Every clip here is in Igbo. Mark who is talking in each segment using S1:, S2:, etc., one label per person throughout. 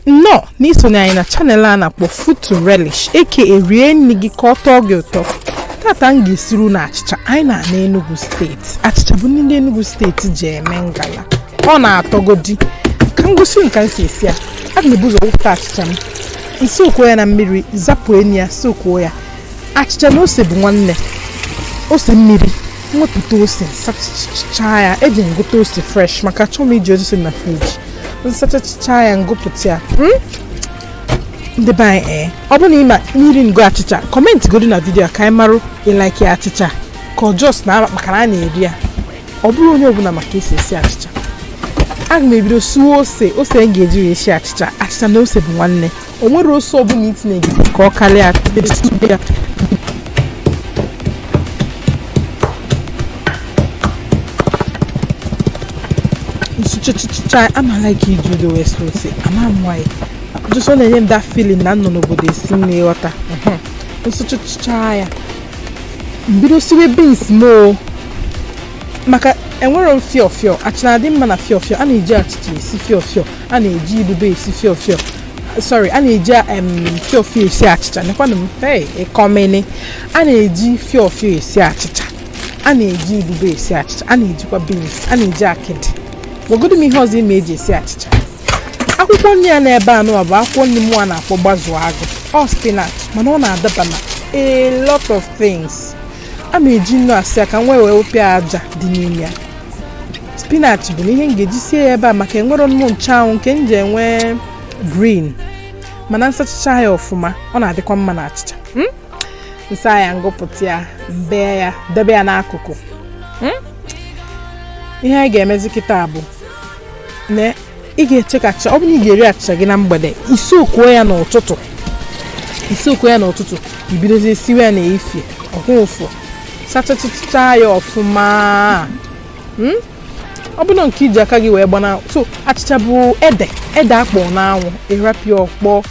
S1: nnọọ n'isonye anyị na channel a na-akpọ food to relish aka rie nri gị ka ọ tọọ gị ụtọ tata m ga-esiru na achịcha anyị n'ana Enugu steeti achịcha bụ nri ndị Enugu steeti ji eme ngala ọ na-atọgodi ka m gosi unu ka m si esi ya aga m ebu ụzọ wụpụta achịcha m sookuo ya na mmiri zapụ unyi ya sookuo ya achịcha na ose bụ nwanne ose mmiri m wepụta ose sachachaa ya eje m gota ose fresh maka achọghị m iji ose na friji m sachachaa ya m gụpụta ya hmm? ndị be anyị ee eh, ọ bụrụ na ịma mmiri ngo achịcha kọmentịgodu na vidiyo ka anyị marụ ị laikị achịcha ka ọ just na maka na a na-eri ya ọ bụrọ onye ọbụla ma ka e si esi achịcha aga m ebido suo ose ose m ga-eji wee esi achịcha achịcha na ose bụ nwanne o nwerọ ose ọbụla i tinye gị ka ọ karịa ya m suchichicha ama m like iji odo wee suo ose ama m why just ọ na-enye m that feeling na m nọ n'obodo esi nri ị ghọta m suchichicha ya m bido siwe beans m o maka enwerọ m fịọ fịọ achịcha dị mma na fịọ fịọ a na-eji achịcha esi fịọ fịọ a na-eji ibube esi fịọ fịọ sorry a na-eji em, fịọ fịọ esi achịcha nekwanụ m hey ịkọmene a na-eji fịọ fịọ esi achịcha a na-eji ibube esi achịcha a na-ejikwa beans a na-eji akịdị gwagodu m ihe ọzọ ị ma e ji esi achịcha akwụkwọ nri ya n'ebe anụwa bụ akwụkwọ nri mụwa na-akpọ gbazu agụ ọ spinach mana ọ na-adaba na a lot of things a ma eji nnu asa ya ka m wee wepịa aja dị n'ime ya spinach bụnụ ihe m ga-eji sie ya ebe a maka enwerọnụ m nchụanwụ nke m ji enwe green mana m sachacha ya ọfụma ọ na-adịkwa mma na achịcha hmm? m saa ya m gụpụta ya m bee ya debe ya n'akụkụ hmm? ihe anyị ga-emezi kịta bụ na ị ga-eche ka achịcha ọ bụrụ na ị ga-eri achịcha gị na mgbede ị sookuo ya n'ụtụtụ ị sookuo ya n'ụtụtụ i bidozie siwe ya n'efie ọ kwụ ụfụ sachachịcha ya ọfụma hmm? ọ bụrụ nke i ji aka gị wee gbana so achịcha bụ ede ede akpọ n'anwụ ị rapụ ya ọ kpọọ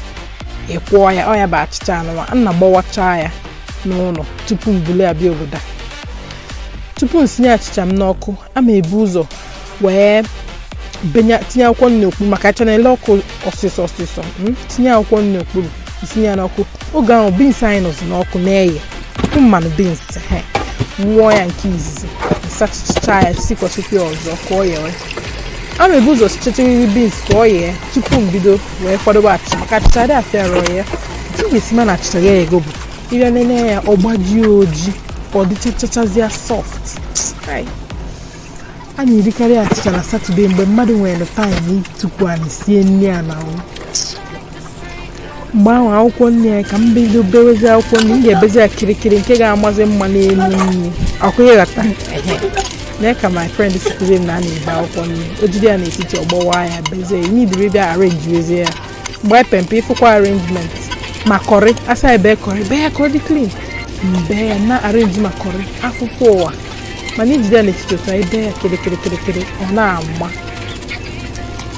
S1: ị kwọọ ya ọ ya bụ achịcha anụwa m na-agbawacha ya n'ụlọ tupu m buli ya bịa obodo a tupu m sinye achịcha m n'ọkụ a ma ebu ụzọ wee benye tinye akwụkwọ nri n'okpuru maka achịcha na-ele ọkụ ọsịsọ ọsịsọ mm, tinye akwụkwọ nri n'okpuru i sinye ya n'ọkụ oge ahụ beans anyị nọzi n'ọkụ na-eye unu ma na beans he m wụọ ya nke izizi sachicha ya sikwasịkwa ya ọzọ ka ọ yewe a na-ebu ụzọ sichachiriri beans ka ọ yee tupu m bido wee kwadobe achịcha maka achịcha adị afịa arụ iye nke ị ga-esi ma na achịcha eyego bụ ị bịa nene ya ọ gbajie ojii ka ọ dịchachachazịa soft a na-erikarị achịcha na satọde mgbe mmadụ nwere time itukwu anị sie nri a na mgbe ahụ akwụkwọ nri ya ka m bido bewezi akwụkwọ nri m ga-ebezi ya kirikiri nke ga-amazi mma n'elu nri ọkụ ị ghọta nee ka my friend sitere na a na-ebe akwụkwọ nri o jide ya n'etiti ọ gbawaa ya bezie ya imidiri bịa arrangewezie ya gbaa pempe ị fụkwa arrangement ma kọrị asa ebe kọrị bee ya ka ọ dị clean m bee ya na arrange ma kọrị afụfụ ụwa mana i jide ya n'etiti ụtọ ebe ya kịrịkịrịkịrịkịrị ọ na-ama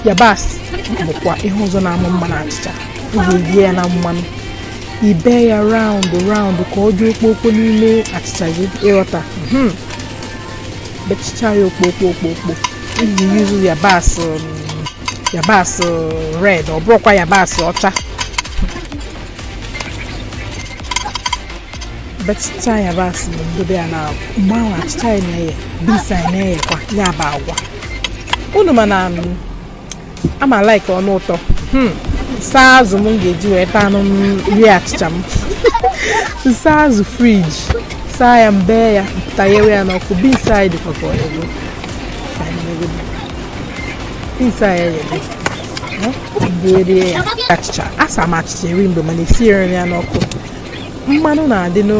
S1: yabasị bụkwa ihe ọzọ na-ama mma na achịcha ị ga-ebie ya na mmanụ i bee ya round round ka ọ dị okpokpo n'ime achịcha gị ị ghọta hmm. bechicha ya okpokpo okpokpo i ji use yabasị um, yabasị red ọ bụrụkwa yabasị ọcha bechicha yabasị ahụ m dobe ya na mgbe ahụ achịcha ya na-eye beans anyị na-eyekwa ya bụ agwa unu ma na a ma like ọnụ ụtọ hmm. saa azụ m ga-eji wee taa anụ rie achịcha m saa azụ fridge saa ya m bee ya pụta ya n'ọkụ beans anyị dịkwa ka o yego Beans anyị yee. Bute achịcha. Asa m achịcha eri mgbe mana esiere ya n'ọkụ. Mmanụ na-adị na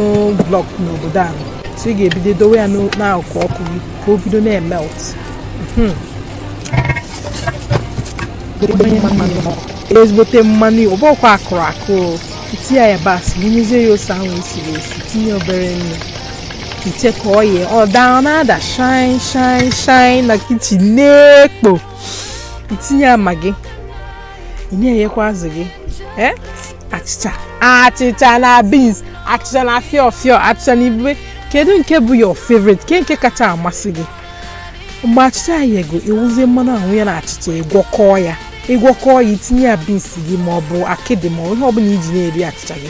S1: block n'obodo ahụ. So ị ga-ebido dowe ya n'akụkụ ọkụ gị ka o bido na-emelt. Hmm. ezigbote mmanụ ọ bụkwa akụrụ akụ tinye yabasị wụnyezie ya ose ahụ e siri esi tinye obere nnu i che ka ọ yee ọ daa ọ na-ada shine shine shine na kitchen na-ekpo i tinye Maggi i tinyekwa azụ gị eh? achịcha achịcha na beans achịcha na fịọ fịọ achịcha na ibube kedu nke bụ your favorite kee nke kacha amasị gị mgbe achịcha yego ị wụzie mmanụ ahụ ya na achịcha ị gwọkọọ ya ị gwọkọọ ya i tinye ya beans gị ma ọ bụ akịdị ma ihe ọbụla i ji na-eri achịcha gị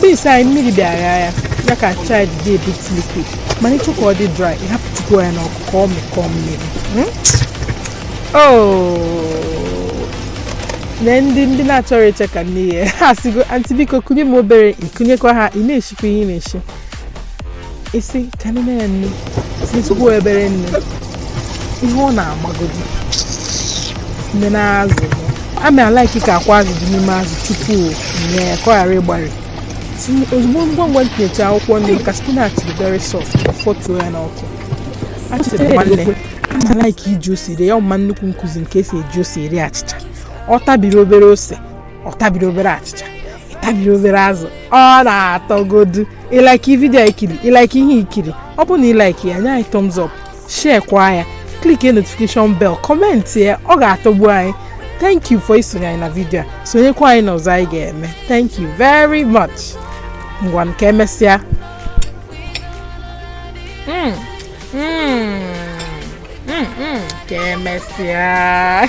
S1: beans anyị mmiri dị agha ya ya ka achịcha dị a bit liquid mana ị chọọ ka ọ dị dry ị hapụtụkwu ya n'ọkụ ka ọ mịkọọ mmiri hmm? oh. na ndị ndị na-achọrọ iche ka nni yee ha sịgo aunty biko kunye m obere i kunyekwa ha ị na-eshikwa ihe ị na-eshi isi ka nne ya nne sikwa ebere nne ihe ọ na-agbagodi nne na azụ ama m alaiki ka akwa azụ dị n'ime azụ tupu nye ya ka ọ ghara ịgbari ozugbo ngwa ngwa m tinyecha akwụkwọ nri maka spinach dị very soft fọtuo ya n'ọkụ achịcha dị nwanne ama m alaiki iji ose rie ya ọ ma nnukwu m kuzi m ka esi eji ose eri achịcha ọ tabiri obere ose ọ tabiri obere achịcha tabiri obere azụ ọ na-atọgodu ị laiki vidio i kiri ị laiki ihe i kiri ọ bụrụ na ị laiki ya nye anyị thumbs up share kwa ya click notification bell comment ya ọ ga-atọgbu anyị thank you for isonye anyị na vidio a sonyekwa anyị n'ọzọ anyị ga-eme thank you very much ngwanụ ka emesịa hmm, hmm, hmm, ka emesịa